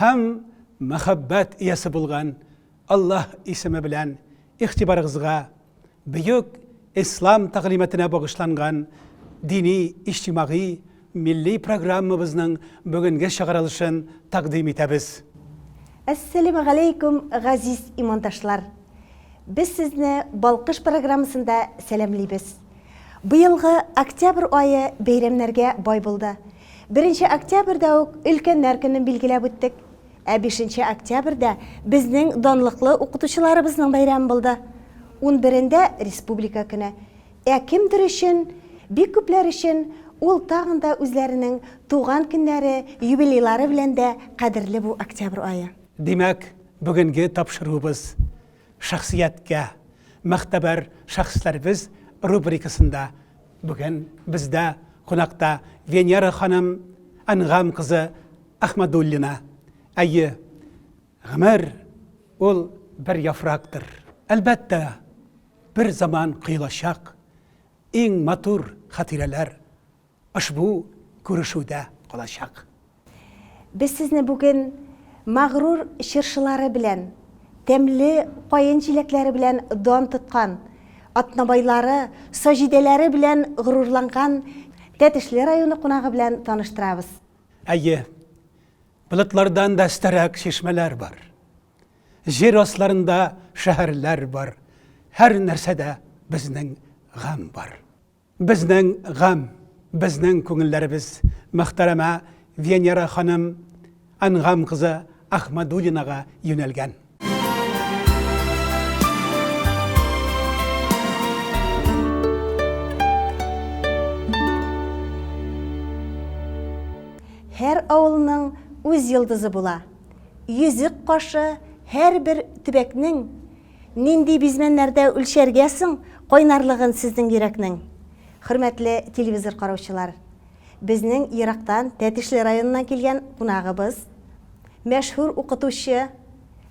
Һәм мәхәббәт иясе булган Аллаһ исеме белән игътибарыгызга бөек Ислам тәгълиматына багышланган дини, иҗтимагый, милли программабызның бүгенге чыгарылышын тәкъдим итәбез. Әссәләмү галәйкүм, газиз имандашлар! Без сезне Балкыш программасында сәламлибез. Быелгы октябрь ае бәйрәмнәргә бай булды. Беренче октябрьдә үк Өлкәннәр көнен билгеләп үттек. Ә бишенче октябрьдә безнең данлыклы укытучыларыбызның бәйрәме булды. Унберендә, республика көне. Ә кемдер өчен, бик күпләр өчен ул тагын да үзләренең туган көннәре, юбилейлары белән дә кадерле бу октябрь ае. Димәк, бүгенге тапшыруыбыз, Шәхсияткә, Могтәбәр шәхесләребез рубрикасында бүген бездә кунакта Венера ханым Әнгам кызы Әхмәдуллина. Әйе, гомер ул бер яфрактыр. Әлбәттә, бер заман коелачак иң матур хатирәләр. ошбу күрешүдә калачак. Без сезне бүген Магрур чыршылары белән, тәмле каен җиләкләре белән дан тоткан, атнабайлары, саҗидәләре белән горурланган Тәтешле районы кунагы белән таныштырабыз. Әйе, болытлардан да өстәрәк чишмәләр бар. Җир асларында шәһәрләр бар, һәр нәрсәдә безнең гамь бар. Безнең гам, безнең күңелләребез мөхтәрәмә Венера ханым Әнгам кызы Ахмадуллинага юнәлгән. Һәр авылның үз йолдызы була. Йөзек кашы һәрбер төбәкнең Нинди бизмәннәрдә үлчәргә соң кайнарлыгын сезнең йөрәкнең? Хөрмәтле телевизор караучылар! Безнең ерактан Тәтешле районыннан килгән кунагыбыз, мәшһүр укытучы,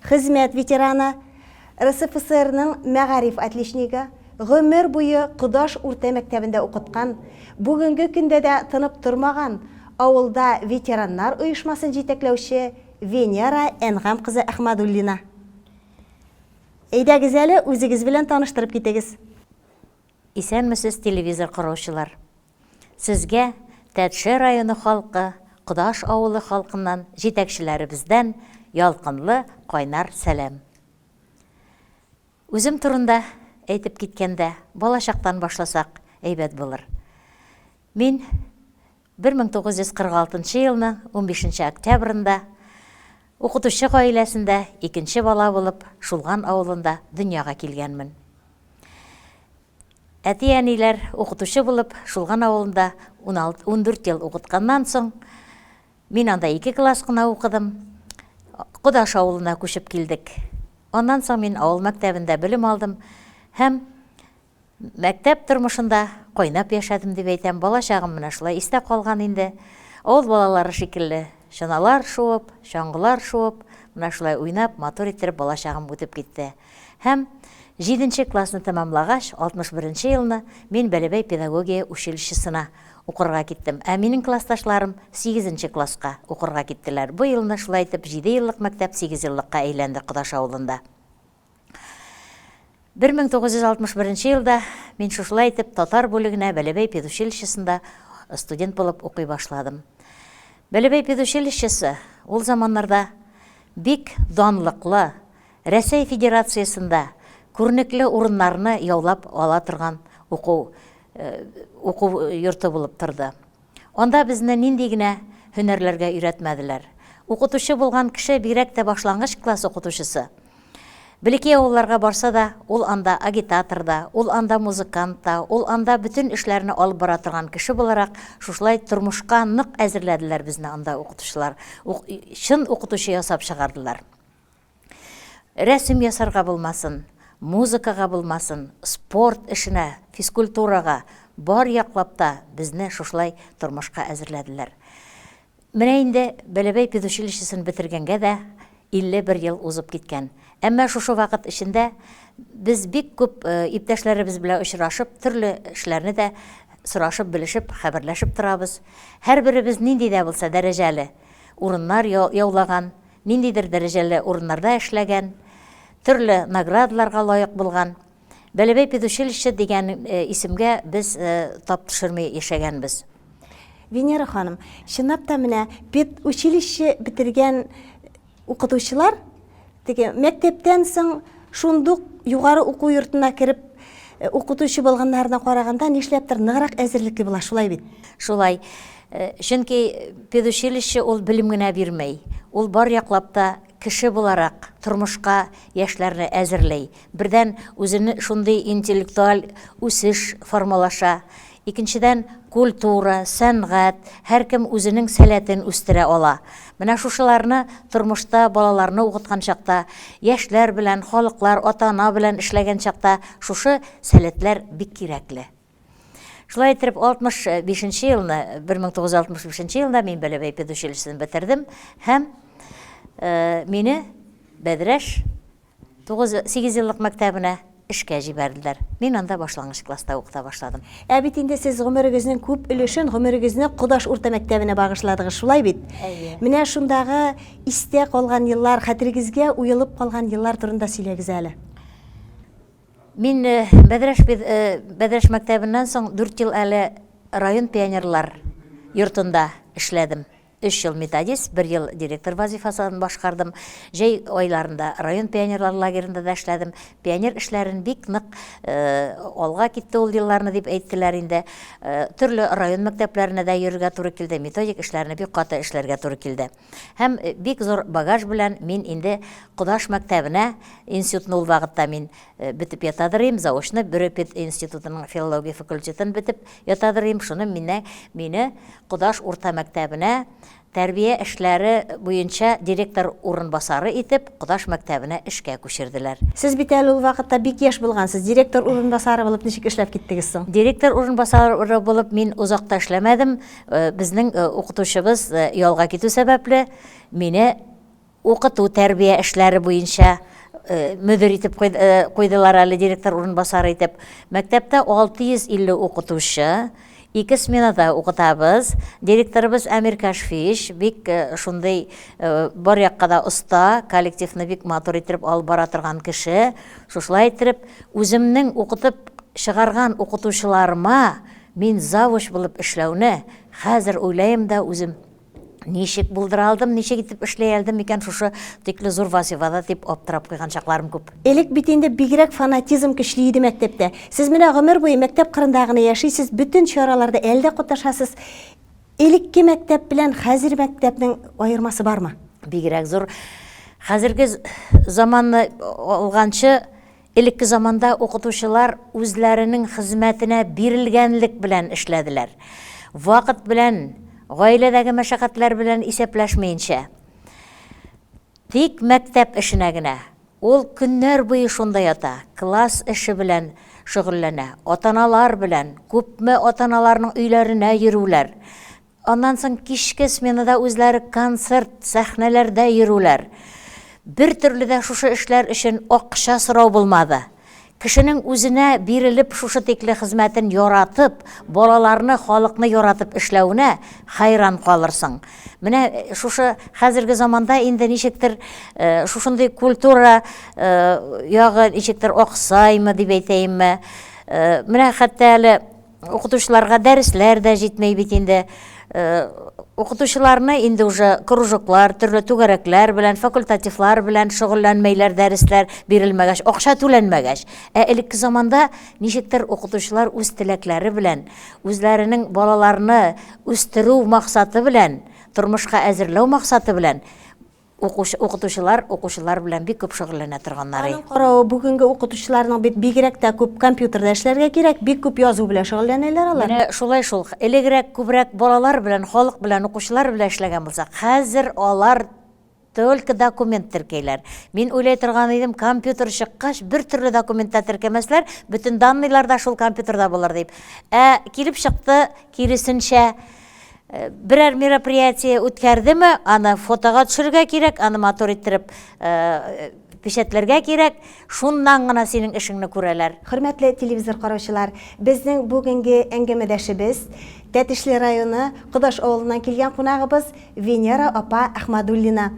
хезмәт ветераны, РСФСРның мәгариф отличнигы, гомер буе Кодаш урта мәктәбендә укыткан, бүгенге көндә дә тынып тормаган авылда ветераннар оешмасын җитәкләүче Венера Әнгам кызы Әхмадуллина. Әйдәгез әле, үзегез белән таныштырып китегез. Исәнмесез, телевизор караучылар! Сезгә Тәтше районы халкы, Кодаш авылы халкыннан, җитәкчеләребездән ялкынлы, кайнар сәлам! Үзем турында әйтеп киткәндә, балачактан башласак әйбәт булыр. Мин Бер мең тугыз йөз кырык алтынчы елның унбишенче октябрендә укытучы гаиләсендә икенче бала булып Шулган авылында дөньяга килгәнмен. Әти-әниләр укытучы булып Шулган авылында уналты, ундүрт ел укытканнан соң, мин анда ике класс кына укыдым, Кодаш авылына күчеп килдек. Аннан соң мин авыл мәктәбендә белем алдым һәм Мәктәп тормышында кайнап яшәдем дип әйтәм, бала чагым менә шулай истә калган инде. Авыл балалары шикелле, чаналар шуып, чаңгылар шуып, менә шулай уйнап, матур иттереп бала чагым үтеп китте. Һәм җиденче классны тәмамлагач, 61 нче елны мин Бәләбәй педагогия училищесына укырга киттем. Ә минем классташларым сигезенче класска укырга киттеләр. Бу елны шулай итеп җиде еллык мәктәп сигезьеллыкка әйләнде Кодаш авылында. 1961 нче елда мин шушылай итеп татар бүлегенә Бәләбәй педучилищесында студент булып укый башладым. Бәләбәй педучилищесы ул заманнарда бик данлыклы, Рәсәй Федерациясендә күренекле урыннарны яулап ала торган уку йорты булып торды. Анда безне нинди генә һөнәрләргә өйрәтмәделәр. Укытучы булган кеше, бигрәк тә башлангыч класс укытучысы, блеки авылларга барса да, ул анда агитатор да, ул анда музыкант та, ул анда бөтен эшләрне алып бара торган кеше буларак, шушылай тормышка нык әзерләделәр безне анда укытучылар, ук чын укытучы ясап чыгардылар. Рәсем ясарга булмасын, музыкага булмасын, спорт эшенә, физкультурага, бар яклап та безне шушылай тормышка әзерләделәр. Менә инде Бәләбәй педучилищесын бетергәнгә дә 51 ел узып киткән. Әмма шушы вакыт эчендә без бик күп иптәшләребез белән очрашып, төрле эшләрне дә сорашып, белешеп, хәбәрләшеп торабыз. Һәрберебез нинди дә булса дәрәҗәле урыннар яулаган. ниндидер дәрәҗәле урыннарда эшләгән, төрле наградаларга лаек булган. Бәләбәй педучилище дигән исемгә без тап төшерми яшәгәнбез. Венера ханым, чынлап та менә педучилище бетергән укытучылар теге мәктәптән соң шундук югары уку йортына кереп укытучы булганнарына караганда нишләптер ныграк әзерлекле була, шулай бит? Шулай. Чөнки педучилище ул белем генә бирмей, ул бар яклап та кеше буларак тормышка яшьләрне әзерли. Бердән, үзен шундый интеллектуаль үсеш формалаша. Икенчедән, культура, сәнгать, һәркем үзенең сәләтен үстерә ала. Менә шушыларны тормышта балаларны укыткан чакта, яшьләр белән, халыклар, ата-ана белән эшләгән чакта шушы сәләтләр бик кирәкле. Шулай итеп, 65 нче елны, 1965 нче елда мин Бәләбәй педучилищесын бетердем һәм э, мине Бәдрәш 9-8 еллык мәктәбенә эшкә җибәрделәр. Мин анда башлангыч класста укыта башладым. Ә бит инде сез гомерегезнең күп өлешен гомерегезне Кудаш урта мәктәбенә багышладыгыз, шулай бит? Әйе. Менә шундагы истә калган еллар, хәтерегезгә уелып калган еллар турында сөйләгез әле. Мин Бәдрәш Бәдрәш мәктәбеннән соң дүрт ел әле район пионерлар йортында эшләдем. Өч ел методист, бер ел директор вазыйфасын башкардым. Җәй айларында район пионерлар лагеренда да эшләдем. Пионер эшләрен бик нык алга китте ул елларны дип әйттеләр инде. Төрле район мәктәпләренә дә йөрергә туры килде, методик эшләрне бик каты эшләргә туры килде. Һәм бик зур багаж белән мин инде Кодаш мәктәбенә, институтны ул вакытта мин бетеп ятадыр идем, заочно Бөре пединститутының филология факультетын бетеп ятадыр идем, шуны мине, мине Кодаш урта мәктәбенә тәрбия эшләре буенча директор урынбасары итеп Кодаш мәктәбенә эшкә күчерделәр. Сез бит әле ул вакытта бик яшь булгансыз, директор урынбасары булып ничек эшләп киттегез соң? Директор урынбасары булып мин озак та эшләмәдем. Безнең укытучыбыз ялга китү сәбәпле, мине укыту тәрбия эшләре буенча мөдир итеп куйдылар әле, директор урынбасары итеп. Мәктәптә 650 укытучы, ике сменада укытабыз. Директорыбыз Әмир Кашфич, бик шундый бар якка да оста, коллективны бик матур иттереп алып бара торган кеше. Шушылай иттереп, үземнең укытып чыгарган укытучыларыма Мин завуч булып эшләүне хәзер уйлаем да үзем, ничек булдыра алдым, ничек итеп эшли алдым икән шушы тикле зур вазифада, дип аптырап куйган чакларым күп. Элек бит инде бигрәк фанатизм көчле иде мәктәптә. Сез менә гомер буе мәктәп кырында гына яшисез, бөтен чараларда әле дә катнашасыз. Элекке мәктәп белән хәзер мәктәпнең аермасы бармы? Бигрәк зур. Хәзерге заманны алганчы, Элекке заманда укытучылар үзләренең хезмәтенә бирелгәнлек белән эшләделәр. Вакыт белән, гаиләдәге мәшәкатьләр белән исәпләшмиенчә. Тик мәктәп эшенә генә. Ул көннәр буе шунда ята, класс эше белән шөгыльләнә. Атаналар белән, күпме атаналарның өйләренә йөрүләр. Аннан соң кичке сменада үзләре концерт, сәхнәләрдә йөрүләр. Бертөрле дә шушы эшләр өчен акча сорау булмады. Кешенең үзенә бирелеп шушы тикле хезмәтен яратып, балаларны, халыкны яратып эшләвенә хәйран калырсың. Менә шушы хәзерге заманда инде ничектер шушындый культура ягы ничектер аксаймы дип әйтәемме, менә хәтта әле Укытучыларга дәресләр дә җитмәй бит инде. Э, укытучыларны инде уже кружоклар, төрле түгәрәкләр белән, факультативлар белән шөгыльләнмәйләр, дәресләр бирелмәгәч, акча түләнмәгәч. Ә элекке заманда ничектер укытучылар үз теләкләре белән, үзләренең балаларны үстерү максаты белән, тормышка әзерләү максаты белән Укучы, укытучылар укучылар белән бик күп шөгыльләнә торганнары. Аның каравы, бүгенге укытучыларның бит бигрәк тә күп компьютерда эшләргә кирәк, бик күп язу белән шөгыльләнәләр алар. Менә шулай шул. Элегрәк күбрәк балалар белән, халык белән, укучылар белән эшләгән булсак, хәзер алар только документ теркәйләр. Мин уйлый торган идем, компьютер чыккач, бертөрле документ та теркәмәсләр, бөтен данныйлар да шул компьютерда булыр дип. Ә килеп чыкты, киресенчә. Берәр мероприятие үткәрдеме, аны фотога төшерергә кирәк, аны матур иттереп печәтләргә кирәк, шуннан гына синең эшеңне күрәләр. Хөрмәтле телевизор караучылар, безнең бүгенге әңгәмәдәшебез, Тәтешле районы Кодаш авылыннан килгән кунагыбыз Венера апа Әхмадуллина.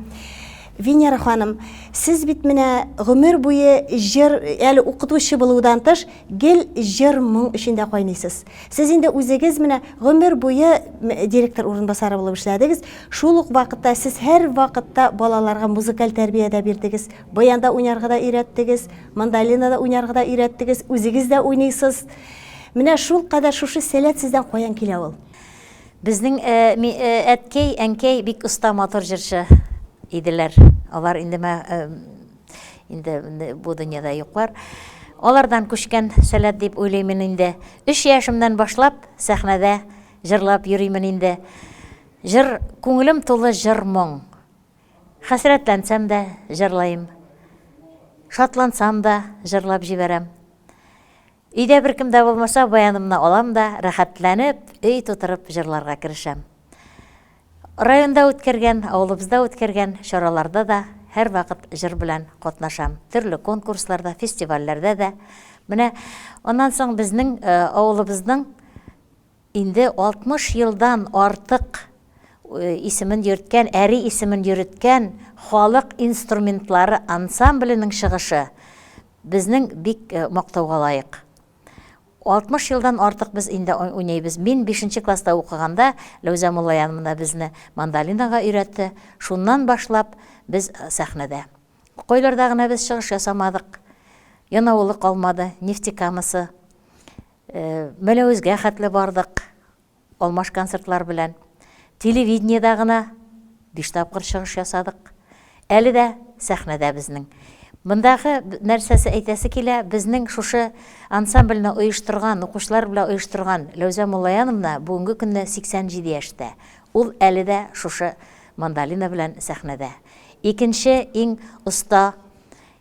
Венера ханым, сез бит менә гомер буе җыр, әле укытучы булудан тыш, Гел җыр-моң эчендә кайныйсыз. Сез инде үзегез менә гомер буе директор урынбасары булып эшләдегез, шул ук вакытта сез һәрвакытта балаларга музыкаль тәрбия дә бирдегез, баянда уйнарга да өйрәттегез, мандолинада уйнарга да өйрәттегез, үзегез дә уйныйсыз. Менә шулкадәр шушы сәләт сездән каян килә ул? Безнең әткәй, әнкәй бик оста, матур җырчы иделәр. Алар инде инде бу дөньяда юклар. Алардан күчкән сәләт дип уйлыймын инде. Өч яшемнән башлап сәхнәдә җырлап йөримин инде. Җыр, күңелем тулы җыр моң. Хәсрәтләнсәм дә җырлыйм. Шатлансам да җырлап җибәрәм. Өйдә беркем дә булмаса, баянымны алам да, рәхәтләнеп, өй тутырып җырларга керешәм. Районда үткәргән, авылыбызда үткәргән чараларда да һәрвакыт җыр белән катнашам. Төрле конкурсларда, фестивальләрдә дә. Менә аннан соң безнең авылыбызның Инде 60 елдан артык исемен йөрткән, әри исемен йөреткән Халык инструментлары ансамбленең чыгышы безнең бик мактауга лаек. 60 елдан артык без инде уйныйбыз. Мин бишенче класста укыганда Ләүзә Муллаянмна безне мандолинага өйрәтте. Шуннан башлап без сәхнәдә. Кайларда гына без чыгыш ясамадык. Янаулы калмады, Нефтекамасы. Мәләвезгә хәтле бардык, алмаш концертлар белән. Телевидениедә гына биш тапкыр чыгыш ясадык. Әле дә сәхнәдә безнең. Мондагы нәрсәсе әйтәсе килә, безнең шушы ансамбльне оештырган, укучылар белән оештырган Ләүзә Муллаяновна бүгенге көнне 87 яшьтә. Ул әле дә шушы мандолина белән сәхнәдә. Икенче иң оста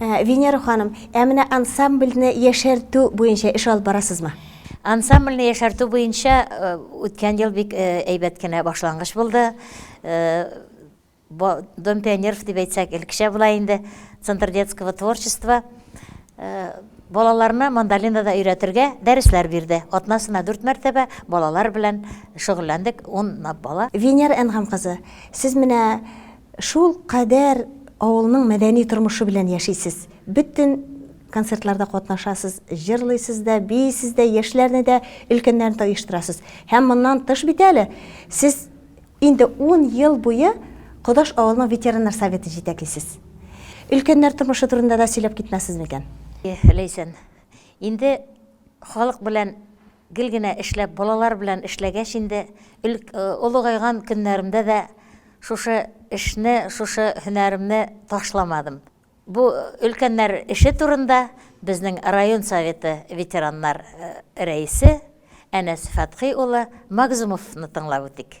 Венера ханым, ә менә ансамбльне яшәртү буенча эш алып барасызмы? Ансамбльне яшәртү буенча үткән ел бик әйбәт кенә башлангыч булды. Дом пионеров дип әйтсәк, элеккечә була инде, Центр детского творчества балаларны мандолина да өйрәтергә дәресләр бирде. Атнасына дүрт мәртәбә балалар белән шөгыльләндек, унлап бала. Венера Әнгам кызы, сез менә Шул кадәр авылның мәдәни тормышы белән яшисез. Бөтен концертларда катнашасыз, җырлыйсыз да, биисез дә, яшьләрне дә, өлкәннәрне дә оештырасыз. Һәм моннан тыш бит әле сез инде ун ел буе Кодаш авылының ветераннар советын җитәклисез. Өлкәннәр тормышы турында да сөйләп китмәссез микән? Ләйсән, инде халык белән Гел генә эшләп, балалар белән эшләгәч инде, олыгайган көннәремдә дә шушы эшне, шушы һөнәремне ташламадым. Бу өлкәннәр эше турында безнең район Советы ветераннар рәисе Әнәс Фәтхи улы Магзумовны тыңлап үтик.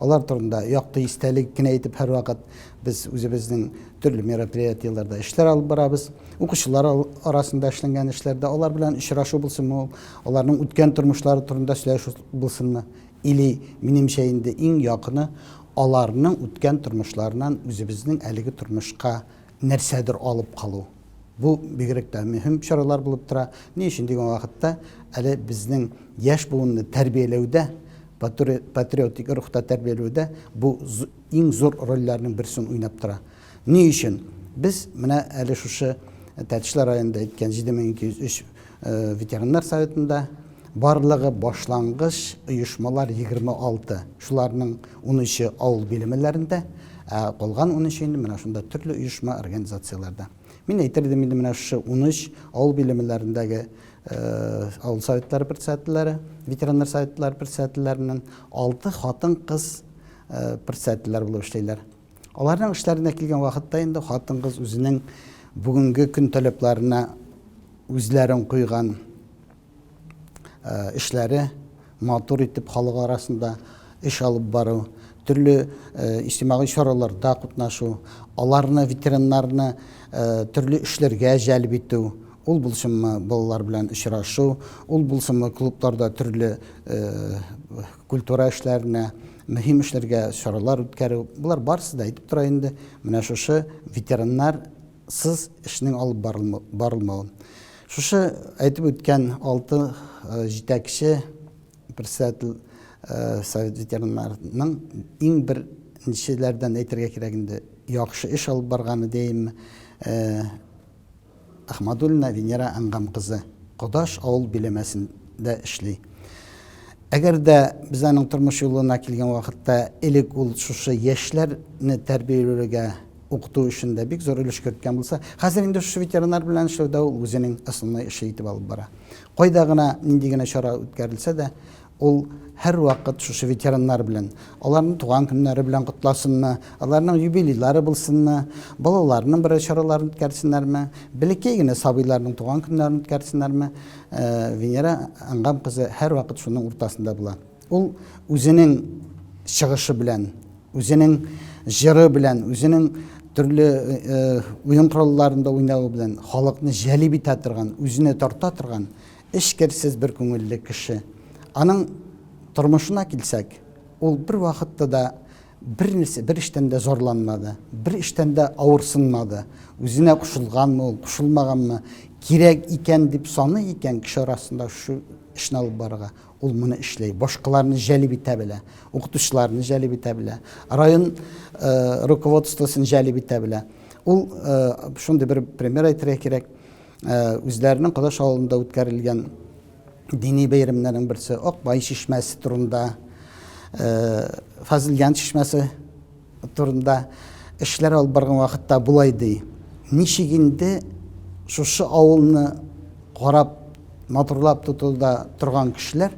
Алар турында якты истәлек кенә итеп һәрвакыт без үзебезнең төрле мероприятиеләрдә эшләр алып барабыз. Укучылар арасында эшләнгән эшләрдә алар белән очрашу булсынмы ул, аларның үткән тормышлары турында сөйләшү булсынмы, или, минемчә инде иң якыны, аларның үткән тормышларыннан үзебезнең әлеге тормышка нәрсәдер алып калу. Бу бигрәк тә мөһим чаралар булып тора. Ни өчен дигән вакытта, әле безнең яшь буынны тәрбияләүдә, патриотик рухта тәрбияләүдә бу иң зур рольләрнең берсен уйнап тора. Ни өчен? Без менә әле шушы Тәтешле районында әйткән 7203 Ветераннар советында барлыгы башлангыч оешмалар 26. Шуларның унөче авыл биләмәләрендә, ә калган унөче инде менә шунда төрле оешма, организацияләрдә. Мин әйтер идем инде менә шушы унөч авыл биләмәләрендәге авыл советлары председательләре, ветераннар советлары председательләреннән алты хатын-кыз председательләр булып эшлиләр. Аларның эшләренә килгән вакытта инде хатын-кыз үзенең бүгенге көн таләпләренә үзләрен куйган э, эшләре матур итеп халык арасында эш алып бару, төрле э, иҗтимагый чараларда катнашу, аларны ветераннарны э, төрле эшләргә җәлеп итү, ул булсынмы балалар белән очрашу, ул булсынмы клубларда төрле культура эшләренә, мөһим эшләргә чаралар үткәрү, болар барысы да әйтеп тора инде менә шушы ветераннар сыз эшнең алып барылмау. Шушы әйтеп үткән алты э, җитәкче председатель э, совет ветераннарының иң беренчеләрдән әйтергә кирәк инде яхшы эш алып барганы дияйме э, Әхмәдуллина Венера Әнгам кызы Кодаш авыл биләмәсендә эшли. Әгәр дә без аның тормыш юлына килгән вакытта элек ул шушы яшьләрне тәрбияләргә, укыту өчен дә бик зур өлеш керткән булса, хәзер инде шушы ветеринар белән эшләүдә ул үзенең основной эше итеп алып бара. Кайда гына, нинди генә чара үткәрелсә дә, Ул һәрвакыт шушы ветераннар белән, аларның туган көннәре белән котласынмы, аларның юбилейлары булсынмы, балаларының берәр чараларын үткәрсеннәрме, бәләкәй генә сабыйларның туган көннәрен үткәрсеннәрме, Венера Ангам кызы һәрвакыт шуның уртасында була. Ул үзенең чыгышы белән, үзенең җыры белән, үзенең төрле уен коралларында уйнавы белән халыкны җәлеп итә торган, үзенә тарта торган Эчкерсез бер күңелле кеше. Аның тормышына килсәк, ул бервакытта да бер нәрсә, бер эштән дә зарланмады, бер эштән дә авырсынмады. Үзенә кушылганмы ул, кушылмаганмы, кирәк икән дип саный икән кеше арасында шушы эшне алып барырга, ул моны эшләй, башкаларны җәлеп итә белә, укытучыларны җәлеп итә белә, район руководствосын җәлеп итә белә. Ул шундый бер пример әйтергә кирәк. үзләренең Кодаш авылында үткәрелгән дини бәйрәмнәрнең берсе Акбай чишмәсе турында, Фазылҗан чишмәсе турында эшләр алып барган вакытта болай ди. Ничек инде шушы авылны карап, матурлап тотуда торган кешеләр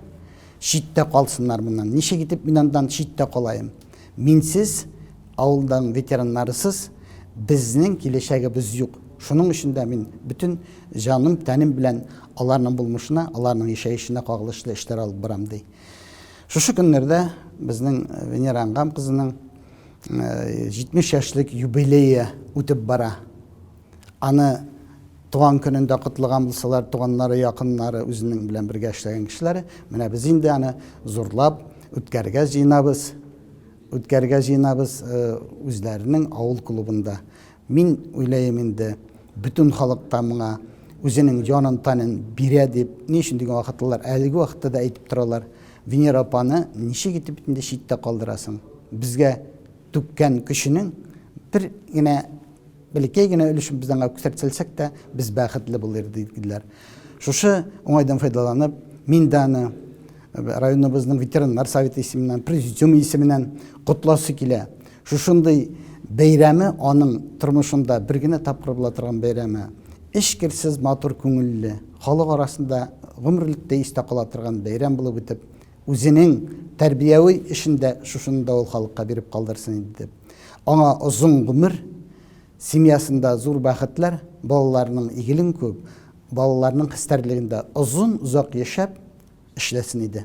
читтә калсыннар моннан. Ничек итеп мин андан читтә калаем? Минсез, авылдан ветераннарысыз безнең киләчәгебез юк. Шуның өчен дә мин бөтен җаным, тәнем белән аларның булмышына, аларның яшәешенә кагылышлы эшләр алып барам, ди. Шушы көннәрдә безнең Венера Ангам кызының 70 яшьлек юбилее үтеп бара. Аны Туган көнен дә котлыган булсалар, туганнары, якыннары, үзенең белән бергә эшләгән кешеләре, менә без инде аны зурлап үткәргә җыенабыз, үткәргә җыенабыз э, үзләренең авыл клубында. Мин уйлаем инде, бөтен халык та моңа үзенең җанын танын бирә дип, ни өчен дигән вакытлар, әлеге вакытта да әйтеп торалар. Венера апаны ничек итеп инде читтә калдырасың? Безгә түккән көченең бер генә Бәләкәй генә өлешен без аңа күрсәтсәлсәк тә, без бәхетле булыр идек, диделәр. Шушы уңайдан файдаланып, мин дә аны районыбызның ветераннар советы исеменнән, президиум исеменнән котласы килә. Шушындый бәйрәме аның тормышында бер генә тапкыр була торган бәйрәме. Эчкерсез матур күңелле, халык арасында гомерлектә истә кала торган бәйрәм булып үтеп, Үзенең тәрбияви эшен дә шушыны да ул халыкка биреп калдырсын иде дип. Аңа озын гомер, семьясында зур бәхетләр, балаларының игелен күреп, балаларның хәстәрлегендә озын-озак яшәп, эшләсен иде.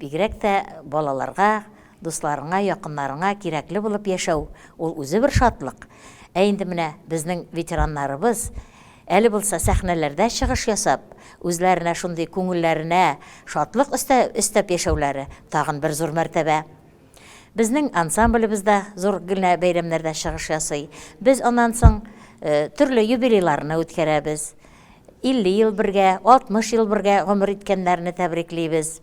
Бигрәк тә балаларга, дусларыңа, якыннарыңа кирәкле булып яшәү, ул үзе бер шатлык. Ә инде менә безнең ветераннарыбыз, әле булса сәхнәләрдә чыгыш ясап, үзләренә шундый күңелләренә шатлык өстәп яшәүләре, тагын бер зур мәртәбә. Безнең ансамблебез да зур генә бәйрәмнәрдә чыгыш ясый. Без аннан соң төрле юбилейларны үткәрәбез. 50 ел бергә, 60 ел бергә гомер иткәннәрне тәбриклибез.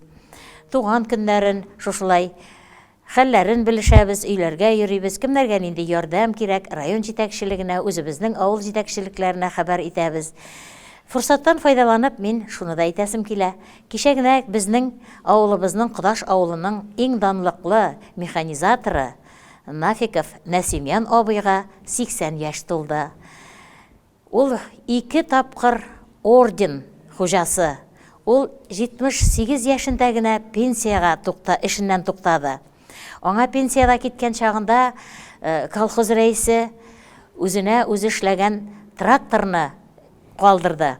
Туган көннәрен шушылай хәлләрен белешәбез, өйләргә йөрибез, кемнәргә нинди ярдәм кирәк, район җитәкчелегенә, үзебезнең авыл җитәкчелекләренә хәбәр итәбез. Форсаттан файдаланып, мин шуны да әйтәсем килә, Кичә генә безнең авылыбызның Кодаш авылының иң данлыклы механизаторы Нафиков Нәсимян абыйга 80 яшь тулды. Ул ике тапкыр орден хуҗасы. Ул 78 яшендә генә пенсиягә эшеннән туктады. Аңа пенсиягә киткән чагында колхоз рәисе үзенә үзе эшләгән тракторны калдырды.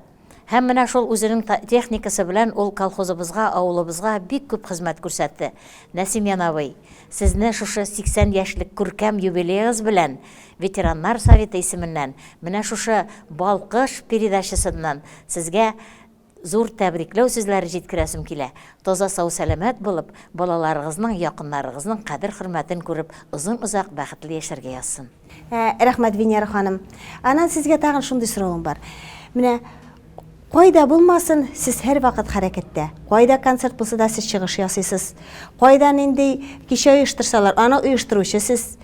Һәм менә шул үзенең та техникасы белән ул колхозыбызга, авылыбызга бик күп хезмәт күрсәтте. Нәсимьян абый, сезне шушы 80 яшьлек күркәм юбилеегыз белән Ветераннар советы исеменнән, менә шушы Балкыш передачасыннан сезгә зур тәбрикләү сүзләре җиткерәсем килә. Таза сау-сәламәт булып, балаларыгызның, якыннарыгызның кадер-хөрмәтен күреп, озын-озак бәхетле яшәргә язсын. Ә, рәхмәт, Венера ханым. Анан сезгә тагын шундый соравым бар. Менә кайда булмасын, сез һәрвакыт хәрәкәттә. Кайда концерт булса да сез чыгыш ясыйсыз. Кайда нинди кичә оештырсалар, аны оештыручы сез.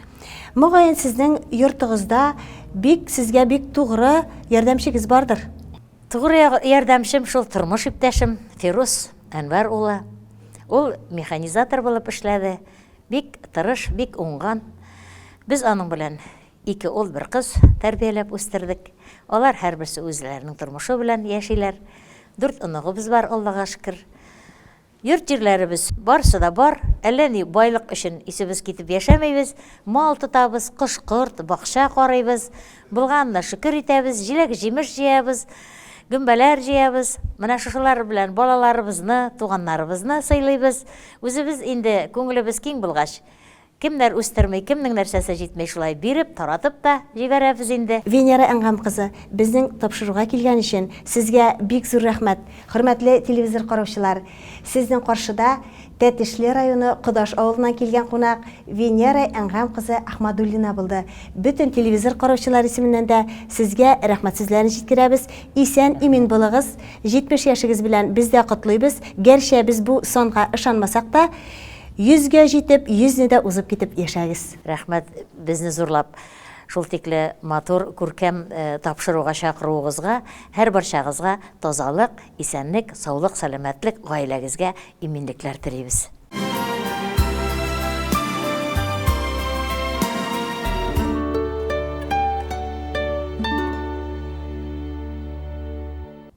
Мөгаен, сезнең йортыгызда бик сезгә бик тугры ярдәмчегез бардыр. Тугры ярдәмчем шул тормыш иптәшем Фирус Әнвәр улы. Ул механизатор булып эшләде. Бик тырыш, бик уңган. Без аның белән ике ул, бер кыз тәрбияләп үстердек. Алар һәрберсе үзләренең тормышы белән яшиләр. Дүрт оныгыбыз бар, Аллага шөкер. Йорт-җирләребез барысы да бар. Әллә ни байлык өчен исебез китеп яшәмибез. Мал тотабыз, кош-корт, бакча карыйбыз. Булганына шөкер итәбез, җиләк-җимеш җыябыз, гөмбәләр җыябыз. Менә шушылар белән балаларыбызны, туганнарыбызны сыйлыйбыз. Үзебез инде күңелебез киң булгач, кемнәр үстерми, кемнең нәрсәсе җитми, шулай биреп, таратып та җибәрәбез инде. Венера Әнгам кызы, безнең тапшыруга килгән өчен Сезгә бик зур рәхмәт! Хөрмәтле телевизор караучылар, Сезнең каршыда Тәтешле районы Кодаш авылыннан килгән кунак Венера Әнгам кызы Әхмадуллина булды. Бөтен телевизор караучылар исеменнән дә Сезгә рәхмәт сүзләрен җиткерәбез. Исән-имин булыгыз. 70 яшегез белән без дә котлыйбыз. Гәрчә без бу санга ышанмасак та, 100 гә җитеп, 100 не дә узып китеп яшәгез. Рәхмәт безне зурлап шул тикле матур, күркәм тапшыруга чакыруыгызга, һәрбарчагызга тазалык, исәнлек, саулык, сәламәтлек, гаиләгезгә Иминлекләр телибез.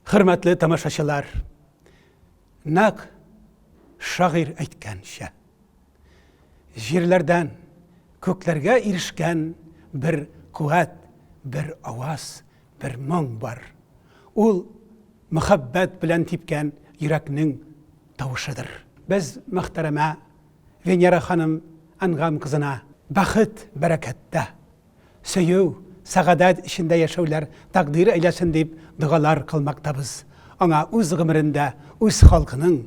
Хөрмәтле тамашачылар! Нәкъ шагыйрь әйткәнчә, җирләрдән күкләргә ирешкән бер куәт, бер аваз, Бер моң бар. Ул мөхәббәт белән типкән йөрәкнең тавышыдыр. Без мөхтәрәмә Венера ханым Әнгам кызына бәхет, бәрәкәттә, сөю, сәгадәт эчендә яшәүләр тәкъдир әйләсен дип догалар кылмактабыз, аңа үз гомерендә үз халкының,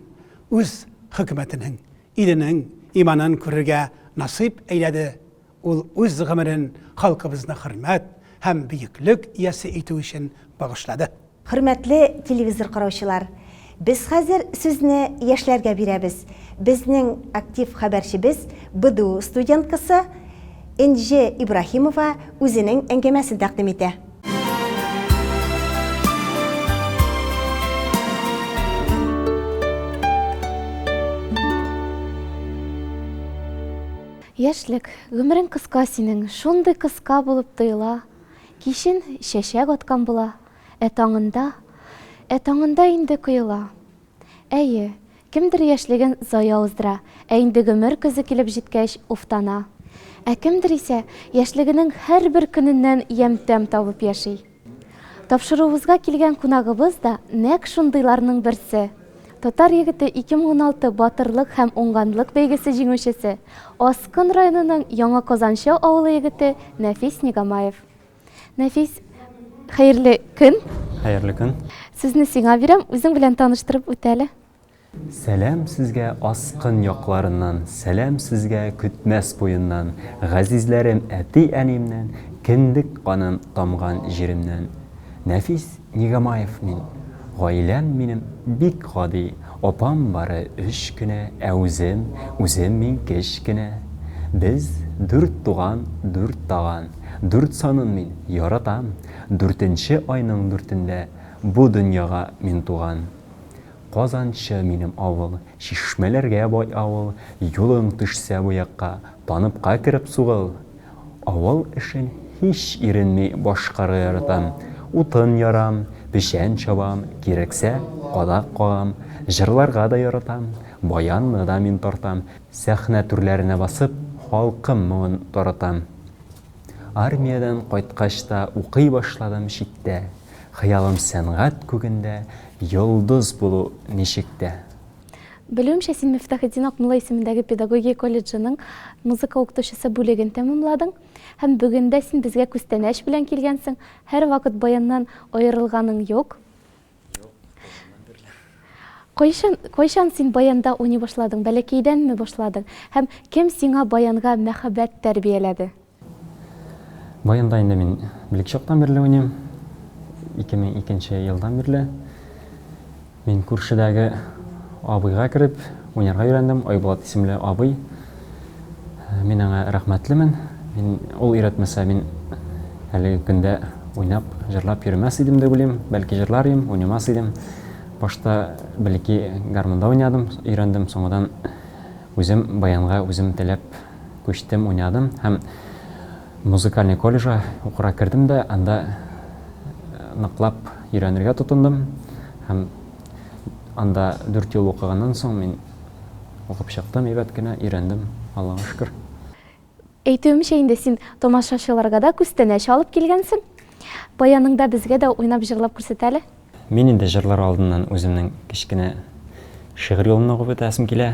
үз хөкүмәтенең, иленең иманын күрергә насыйп әйләде, Ул үз гомерен халкыбызны хөрмәт һәм бөеклек иясе итү өчен багышлады. Хөрмәтле телевизор караучылар! Без хәзер сүзне яшьләргә бирәбез. Безнең актив хәбәрчебез, БДУ студенткасы Энҗе Ибраһимова үзенең әңгәмәсен тәкъдим итә. Яшьлек, гомерең кыска синең, Шундый кыска булып тоела. Кичен чәчәк аткан була, Ә таңында, ә таңында инде коела. Әйе, кемдер яшьлеген зая уздыра, Ә инде гомер көзе килеп җиткәч, уфтана. Ә кемдер исә яшьлегенең һәрбер көненнән ямь-тәм табып яши. Тапшыруыбызга килгән кунагыбыз да нәкъ шундыйларның берсе. Татар егете 2016 Батырлык һәм уңганлык бәйгесе җиңүчесе, Аскын районының Яңа Казанчы авылы егете Нәфис Нигамаев. Нәфис, хәерле көн! Хәерле көн! Сүзне сиңа бирәм, үзең белән таныштырып үт әле. Сәлам сезгә Аскын якларыннан, сәлам сезгә Көтмәс буеннан, газизләрем әти-әниемнән, кендек каным тамган җиремнән. Нәфис Нигамаев мин. Гаиләм минем бик гади, апам бары өч кенә, ә үзем, үзем мин кечкенә. Без, дүрт туган, дүрт таган. Дүрт санын мин яратам, дүртенче айның дүртендә бу дөньяга мин туган. Казанчы минем авыл, Чишмәләргә бай авыл, Юлың төшсә бу якка, Таныбка кереп сугыл. Авыл эшен һич иренми башкарырдым, Утын ярам, печән чабам, Кирәксә, кадак кагам. Җырларга да яратам, Баянны да мин тартам, Сәхнә түрләренә басып, Халкым моңын таратам. Армиядән кайткач та укый башладым читтә, Хыялым сәнгать күгендә йолдыз булу ничек тә. Белүемчә, син Мифтахетдин Акмулла исемендәге педагогия колледжының музыка укытучысы бүлеген тәмамладың һәм бүген дә син безгә күстәнәч белән килгәнсең, һәрвакыт баяннан аерылганың юк. Кайчан, кайчан син баянда уйный башладың? Бәләкәйдәнме башладың? Һәм кем сиңа баянга мәхәббәт тәрбияләде? Баянда инде мин белек чактан бирле уйныйм. 2002 елдан бирле. Мин күршедәге абыйга кереп, уйнарга өйрәндем. Айбулат исемле абый. Мин аңа рәхмәтлемен. Мин ул өйрәтмәсә, мин әлеге көндә уйнап, җырлап йөрмәс идем дип уйлыйм. Бәлки җырлар идем, уйнамас идем. Башта бәлки гармунда уйнадым, өйрәндем, соңыннан үзем баянга үзем теләп күчтем, уйнадым һәм музыкальный колледжга укырга кердем дә, анда ныклап өйрәнергә тотындым һәм Анда дүрт ел укыганнан соң мин укып чыктым әйбәт кенә, өйрәндем, Аллага шөкер. Әйтүемчә инде син тамашачыларга да күстәнәч алып килгәнсең. Баяның да безгә дә уйнап җырлап күрсәт әле. Мин инде җырлар алдыннан үземнең кечкенә шигырь юлымны укып үтәсем килә.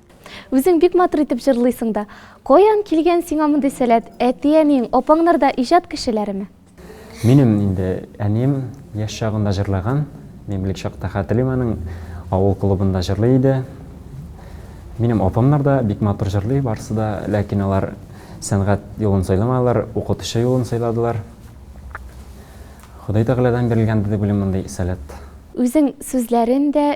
Үзең бик матур итеп җырлыйсың да. Каян килгән сиңа мондый сәләт? Әти-әниең, апаңнар да иҗат кешеләреме? Минем инде әнием яшь чагында җырлаган. Мин бик чакта хәтерлим аның авыл клубында җырлый иде. Минем апамнар да бик матур җырлый барысы да, ләкин алар сәнгать юлын сайламадылар, укытучы юлын сайладылар. Ходай Тәгаләдән бирелгәндер дип уйлыйм мондый сәләт. Үзең сүзләрен дә,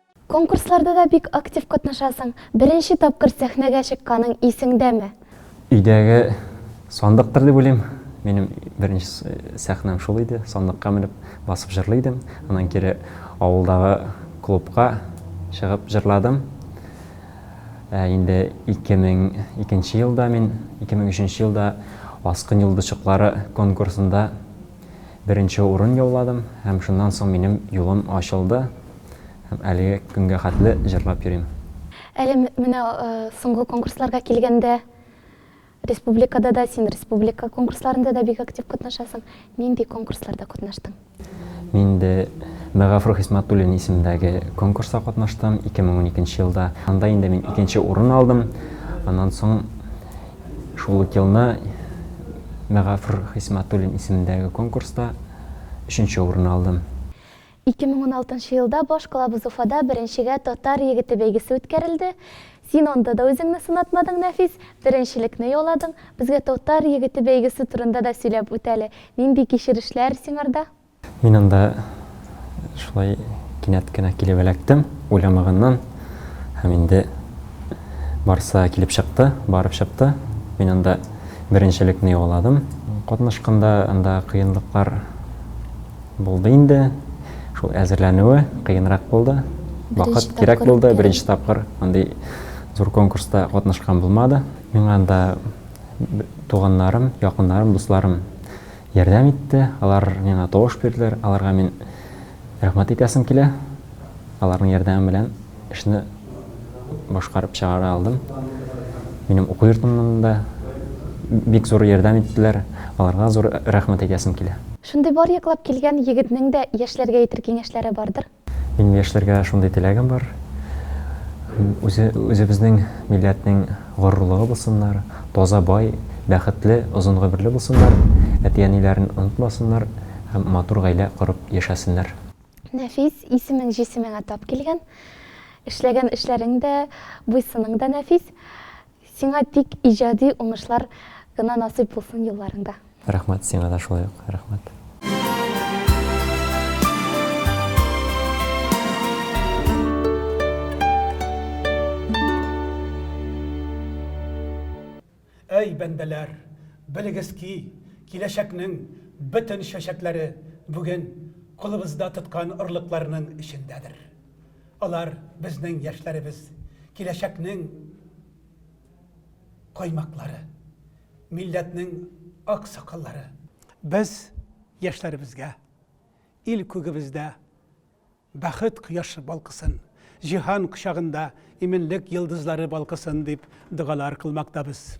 Конкурсларда да бик актив катнашасың. Беренче тапкыр сәхнәгә чыкканың исеңдәме? Өйдәге сандыктыр дип уйлыйм. Минем беренче сәхнәм шул иде. Сандыкка менеп басып җырлый идем. Аннан кире авылдагы клубка чыгып җырладым. Ә инде 2002 елда мин 2003 елда Аскын йолдызчыклары конкурсында Беренче урын яуладым һәм шуннан соң минем юлым ачылды һәм әлеге көнгә хәтле җырлап йөрим. Әле менә соңгы конкурсларга килгәндә, республикада да, син республика конкурсларында да бик актив катнашасың. Нинди конкурсларда катнаштың? Мин инде Мәгафур Хисмәтуллин исемендәге конкурста катнаштым, 2012 нче елда. Анда инде мин икенче урын алдым. Аннан соң Шул ук елны Мәгафур Хисмәтуллин исемендәге конкурста өченче урынны алдым. 2016 нчы елда баш калабыз Уфада беренчегә Татар егете бәйгесе үткәрелде. Син анда да үзеңне сынатмадың, Нәфис, беренчелекне яуладың. Безгә Татар егете бәйгесе турында да сөйләп үт әле. Нинди кичерешләр сиңарда? Мин анда шулай кинәт кенә килеп эләктем, уйламаганнан. Һәм инде барысы килеп чыкты, барып чыкты. Мин анда беренчелекне яуладым. Катнашканда анда кыенлыклар булды инде. Шул әзерләнүе кыенрак булды. Вакыт кирәк булды. Беренче тапкыр андый зур конкурста катнашкан булмады. Миңа анда туганнарым, якыннарым, дусларым Ярдәм итте, алар миңа тавыш бирделәр, аларга мин рәхмәт әйтәсем килә. Аларның ярдәме белән эшне башкарып чыгара алдым. Минем уку йортымнан да бик зур ярдәм иттеләр, аларга зур рәхмәт әйтәсем килә. Шундый бар яклап килгән егетнең дә яшьләргә әйтер киңәшләре бардыр? Минем яшьләргә шундый теләгем бар. Үзе, үзебезнең милләтнең горурлыгы булсыннар, таза, бай, бәхетле, озын гомерле булсыннар, әти-әниләрен онытмасыннар һәм матур гаилә корып яшәсеннәр. Нәфис, исемең җисемеңә тап килгән. Эшләгән эшләрең дә, буй-сының да нәфис. Сиңа тик иҗади уңышлар гына насыйп булсын юлларыңда. Рәхмәт, сиңа да шулай ук рәхмәт. Әй, бәндәләр, белегез ки, киләчәкнең бөтен чәчәкләре бүген кулыбызда тоткан орлыкларның эчендәдер. Алар, безнең яшьләребез, киләчәкнең коймаклары, милләтнең ак сакаллары. Без яшьләребезгә, ил күгебездә бәхет кояшы балкысын, җиһан кочагында иминлек йолдызлары балкысын дип догалар кылмактабыз.